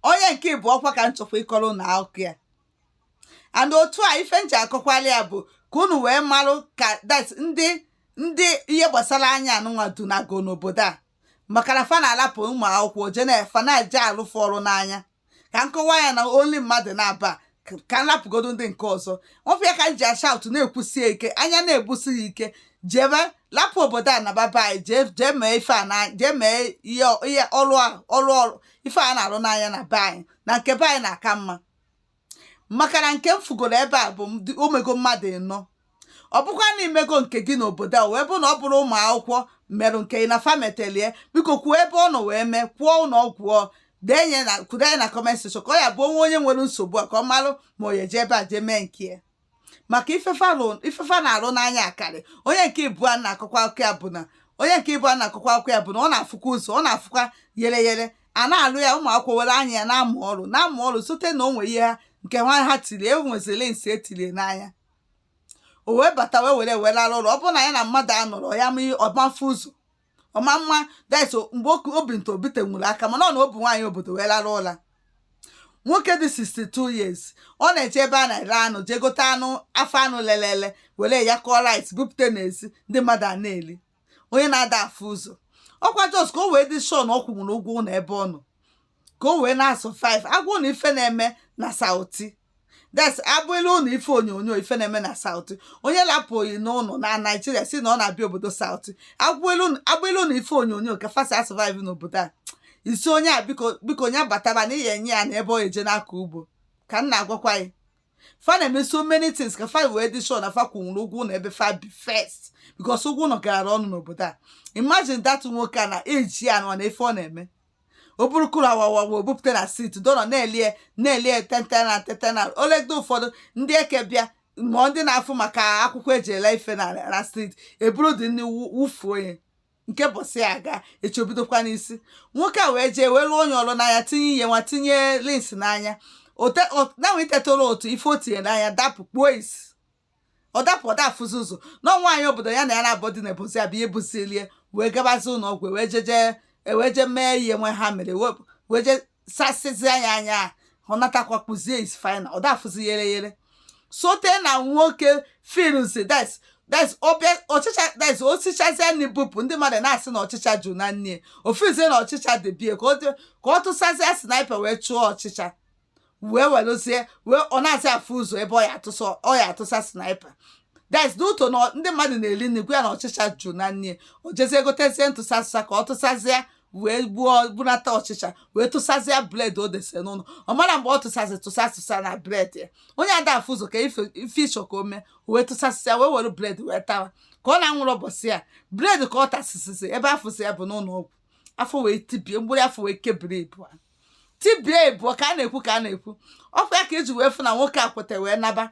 onye nke ịbụọ kwa ka m chọkwa ịkọrọ unu akụkọ ya and otu a ife m ji akọkwala ya bụ ka unu wee marụ ka that ndị ndị ihe gbasara anya anụnwa dunago n'obodo a maka na fa na-alapụ ụmụ akwụkwọ je na-efa na-eje alụ fa ọrụ n'anya ka m kọwa ya na only mmadụ naabọ ka- ka m lapụgodo ndị nke ọzọ ọ ife a ka m ji ashout na-ekwusi ya ike anya na-ebusi ya ike jebe lapụ obodo a naba be anyị jee jee mee ife a na jee mee ihe ihe ọrụ a ọrụ ọrụ ife a na-arụ n'anya na be anyị na nke be anyị na-aka mma maka na nke m fugoro ebe a bụ m dị- o mego mmadụ ịnọ ọ bụkwa na i mego nke gị n'obodo a wee bụ na ọ bụrọ ụmụ akwụkwọ merụ nke ị na fa metelie biko kwuo ebe ọ nọ wee mee kwuo ụlọ ọgwụ ọ denye na kwudenye na comment section ka ọ ya bụ o nwee onye nwere nsogbu a ka ọ malụ ma ọ ya eje ebe a jee mee nke ya maka ife fa ife fa na-arụ n'anya akarị onye nke ịbụọ na-akọkwa akụkọ ya bụ na onye nke ịbụọ na-akọkwa akụkọ ya bụ na ọ na-afụkwa ụzọ ọ na-afụkwa yere yere a na-alụ ya ụmụ akwụkwọ were anya ya na-amụ ọrụ na-amụ ọrụ sote na o nwere ihe ha nke nwa ha tiri e nweziri lens e tiri ya n'anya o wee bata wee were were arụ ọrụ ọ bụrụ na ya na mmadụ anọrọ ya ọ ma afụ ụzọ ọma mma guys o- mgbe oku- obi nta obite nwere aka mana ọ na obu nwaanyị obodo wee lara ụla nwoke dị 62 years ọ na-eje ebe a na-ere anụ jee gote anụ afọ anụ lelele were ya kụọ rice bupụta n'ezi ndị mmadụ a na-eli onye na-ada afụ ụzọ ọ kwa just ka o wee dị sure na ọ kwụnwuru ụgwọ ụlọ ebe ọ nọ ka o wee na-asurvive a gwa unu ife na-eme na South that's abụla nụ ife onyonyo ife na-eme na South onye lapụ gị n'ụlọ na Nigeria sị na ọ na-abịa obodo South abụla nụ ife onyonyo ka fa si asurvive n'obodo a isi onye a biko biko onye bataba na ihe enye ya na ebe ọ eje n'aka ugbo ka m na-agwakwa ya fa na-eme so many things ka fa wee dị sure na fa kwụnwuru ụgwọ ụlọ ebe fa bi first because ụgwọ ụlọ gara ọnụ n'obodo a imagine that nwoke a na e ji ya na ọ na ife ọ na-eme o buru kuru awawa wee bupụta na street dọrọ na-ele ya na-ele ya tente na tente na o legide ụfọdụ ndị eke bịa ma ndị na-afụ maka akwụkwọ e ji ele ife na na street eburu dị nri wụ- wụfuo ya nke ụbọsị ya agaa echi o bidokwa n'isi nwoke a wee jee wee lụọ onye ọrụ n'anya tinye ihe nwa tinye lens n'anya na wee tetara otu ife o tinye n'anya dapụ kpuo isi ọ dapụ ọ da afụzi ụzọ na nwaanyị obodo ya na ya na-abụ dị na ebozi ya bụ ihe buzilie wee gabazi ụlọ ọgwụ wee jeje wee je mee ihe nwa ha mere wee je sasịzi anya anya ọ natakwa kpuzie isi final ọ da afụzi yere yere sote na nwoke filmsi that's that's ọbịa ọchịcha des o sichazie nri bupụ ndị mmadụ na-asị na ọchịcha ju na nni ofizie na ọchịcha debie ka ọ tụsazie sniper wee chụọ ọchịcha wee werezie wee ọ nazị afụ ụzọ ebe ọ ya atụsa ọ ya atụsa sniper that's the ụtọ na ndị mmadụ na-eri nri gwa ya na ọchịcha jụ na nri o jezie gotezie tụsa tụsa ka ọ tụsazie wee gbuo gbunata ọchịcha wee tụsazie bread o debe n'ụlọ ọ marọ mgbe ọ tụsazi tụsa tụsa na bread ya onye ada afụ ụzọ ka ife ife ịchọ ka o mee o wee tụsasịa wee were bread wee tawa ka ọ na-anwụrụ ụbọchị ya bread ka ọ tasịsịsị ebe a fụzị ya bụ n'ụlọ ọgwụ afọ wee tibie mgbụrụ afọ wee kebiri ịbụa tibie ịbụọ ka a na-ekwu ka a na-ekwu ọ kwa ya ka e ji wee fụ na nwoke a kweta wee naba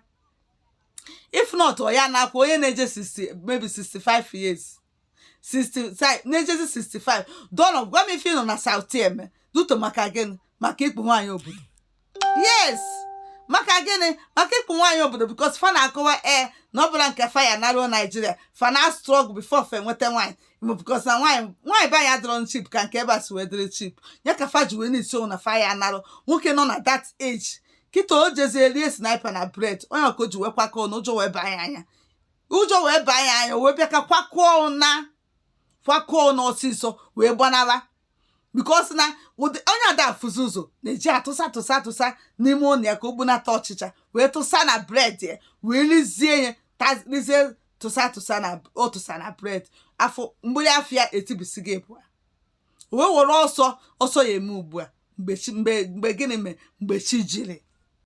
if not ọ ya na-akwa onye na-eje 60 maybe 65 years 65 na-ejezi 65 doonụ gwa m ife ị nọ na South eme duto maka gịnị maka ikpu nwaanyị obodo yes maka gịnị maka ikpu nwaanyị obodo because fa na-akọwa ee na ọ bụla nke fa ya naruo Nigeria fa na-struggle before fa enweta nwaanyị because na nwaanyị nwaanyị be anyị adịrọ cheap ka nke ebe a si wee dịrị cheap ya ka fa ji wee na-esi ọnwụ na fa ya anarụ nwoke nọ na that age kịta o jezie rie sniper na bread onye ọ ka o ji wee kwakọ na ụjọ wee baa ya anya ụjọ wee baa ya anya wee bịa ka kwakọọ na kwakọọ na ọsịsọ wee gbanara because na onye ada afụzi ụzọ na-eji atụsa tụsa tụsa n'ime ụlọ ya ka o gbunata ọchịcha wee tụsa na bread ya wee rizie ya tarizie tụsa tụsa na ọ tụsa na bread afọ mgbụli afọ ya etibisie ịbụa wee were ọsọ ọsọ ya eme ugbu a mgbe chi mgbe mgbe gịnị mere mgbe chi jiri